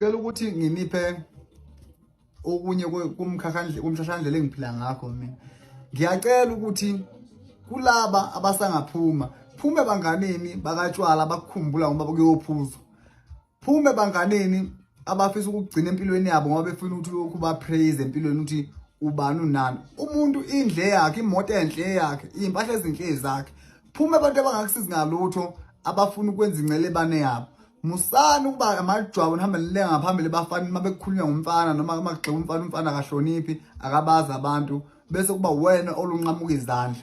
Cela ukuthi nginiphe okunye kumkhakhandle kumhlahlandlela engiphila ngakho mina. Ngiyacela ukuthi kulaba abasangaphuma phume banganini bakatshwala bakukhumbula ngoba kuyophuzwa Phuma ebanganeni abafisa ukugcina empilweni yabo ngoba befuna ukuthi lokhu ba praise empilweni ukuthi ubani unani. Umuntu indle yakhe, imoto enhle yakhe, impahla ezinhle zakhe. Phuma abantu abangakusizi ngalutho abafuna ukwenza incele bane yabo. Musani ukuba amajwabu nihambe nilenga ngaphambili bafana uma bekukhulunywa ngumfana noma uma kugxeka umfana umfana akahloniphi akabazi abantu bese kuba wena olunqamuka izandla.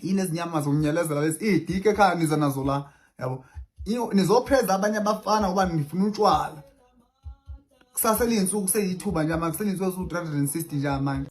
yini ezinyama zomnyelezela lezi idike ekhaya niza nazo la yabo nizopreza abanye abafana uba nifuna utshwala kusase liyinsuku seyithuba nje manje kuselinsuku esu 360 nje manje